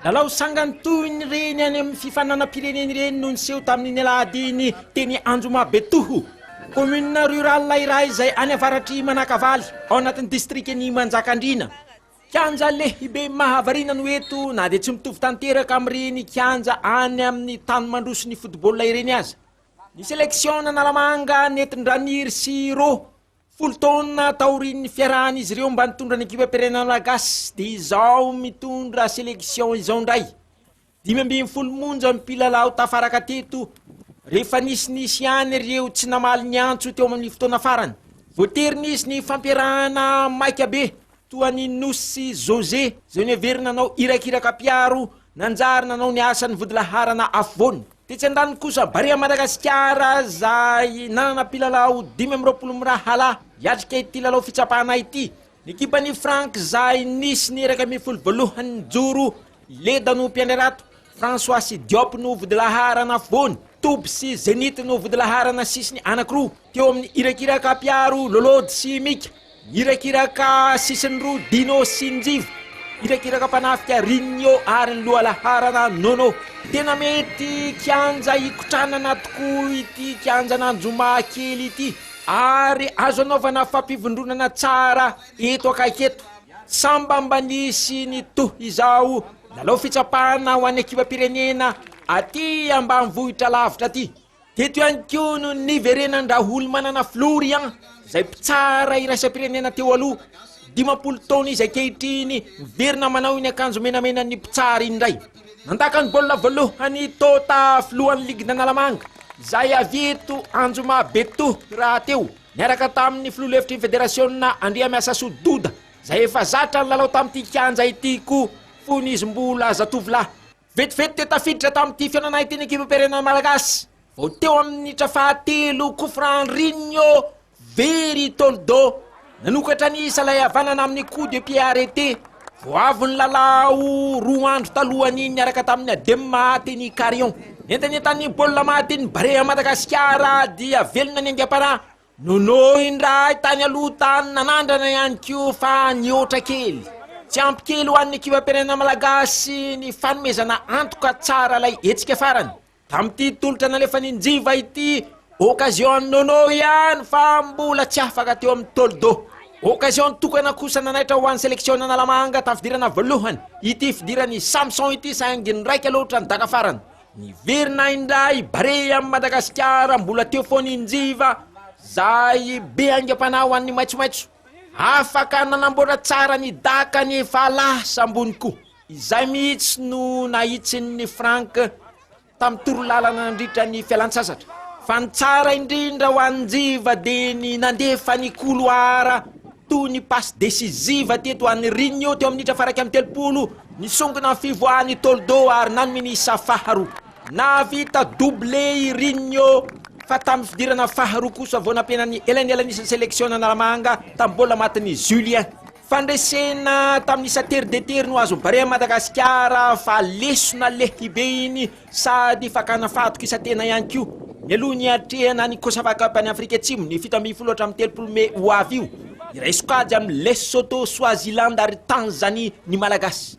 Lalao sangany toy ny reny any amin'ny fifaninanam-pirenena ireny no niseho tamin'iny alahady iny teny Anjomabetoho, commune rurale iray izay any avaratr'i Manakavaly, ao anatin'ny distrikan'i Manjakandriana. Kianja lehibe mahavariana no eto na dia tsy mitovy tanteraka amin'ireny kianja any amin'ny tany mandroso ny football ireny aza. Ny seleksiona Analamanga nentin-dRaniry sy Rô. Folo taona taorian'ny fiarahan'izy ireo mba nitondra ny ekipam-pirenena malagasy dia izao mitondra selection izao indray. Dimy ambin'ny folo monja ny mpilalao tafaraka teto rehefa nisy nisy ihany ireo tsy namaly ny antso teo amin'ny fotoana farany. Voatery nisy ny fampiarahana maika be toa an'i Nosy José izay noheverina nanao irakiraka mpiaro nanjary nanao ny asany vodilaharana afovoany. Tetsy andaniny kosa, Barea Madagasikara, izay nanana mpilalao dimy amby roapolo mirahalahy, hiatrika ity lalao fitsapana ity. Ny ekipan'ny frankizay nisy ny iraika ambin'ny folo voalohany nijoro, Leda no mpiandry harato, François sy Diop no vodilaharana afovoany, Toby sy Zenith no vodilaharana sisiny anakiroa, teo amin'ny irakiraka mpiaro Lolody sy Mika. Irakiraka sisiny roa Dino sy Njivo, irakiraka mpanafika Rinio ary ny lohalaharana Nono. Tena mety kianja hikotranana tokoa ity kianjan'Anjoma kely ity ary azo anaovana fampivondronana tsara eto akaiky eto. Sambamba nisy ny toa izao lalao fitsapana ho an'ny ekipam-pirenena aty ambanivohitra lavitra aty. Teto ihany koa no niverenan-dRaholimanana Florian, izay mpitsara iraisam-pirenena teo aloha, dimampolo taona izy ankehitriny, miverina manao iny akanjo menamenan'ny mpitsara iny indray. Nandaka ny baolina voalohany i Tota, filohan'ny ligin'Analamanga, izay avy eto Anjomabetoa rahateo, niaraka tamin'ny filoha lefitry ny federasiona Andriamiasasoa Doda, izay efa zatra nilalao tamin'ity kianja ity koa fony izy mbola zatovolahy. Vetivety dia tafiditra tamin'ity fihaonana ity ny ekipam-pirenena malagasy vao teo amin'ny minitra fahatelo, coup franc Rigno very Toldo nanokatra ny isa ilay havanana amin'ny coup de pied arrêté vao avy nilalao roa andro talohan'iny niaraka tamin'ny Adem Mahaty ny Carion. Nentanentan'ny baolina Mahaty ny Barea Madagasikara dia velona ny aingam-panahy. Nonohy indray tany aloha tany nanandrana ihany koa fa nihoatra kely. Tsy ampy kely ho an'ny ekibam-pirenena malagasy ny fanomezana antoka tsara ilay hetsika farany. Tamin'ity tolotra nalefan'i Njiva ity, occasion an'i Nono ihany fa mbola tsy afaka teo amin'ny tôlidô. Occasion tokana kosa nanaitra ho an'ny seleksionan'Analamanga tafidirana voalohany ity fidiran'i Samson ity saingy niraika loatra ny daka farany. Niverina indray Barea amin'i Madagasikara mbola teo foana i Njiva izay be aingam-panahy ho an'ny maitsomaitso. Afaka nanamboatra tsara ny daka ny Fahalahy Sambony koa. Izay mihitsy no nahitsin'i Franck tamin'ny torolalana nandritra ny fialantsasatra. Fa ny tsara indrindra ho an'i Njiva dia ny nandefa ny koloara. Toy ny passe décisive teto an'i Rinho teo amin'ny minitra faraika amin'ny telopolo, nisongona ny fivoahan'i Toldo ary nanome ny isa faharoa. Nahavita doublé i Rinho fa tamin'ny fidirana faharoa kosa vao nampiana ny elainelanisan'ny seleksiona Analamanga tamin'ny baolina matin'i Julien. Fandresena tamin'ny isa tery dia tery no azon'i Barea Madagasikara fa lesona lehibe iny. Sady fakana fahatokisantena ihany koa. Mialoha ny hiatrehana ny Cosafa Cup any Afrika Atsimo ny fito ambin'ny folo hatramin'ny telopolo mey ho avy io, hiray sokajy amin'i Lesotho, Swaziland ary Tanzanie ny Malagasy.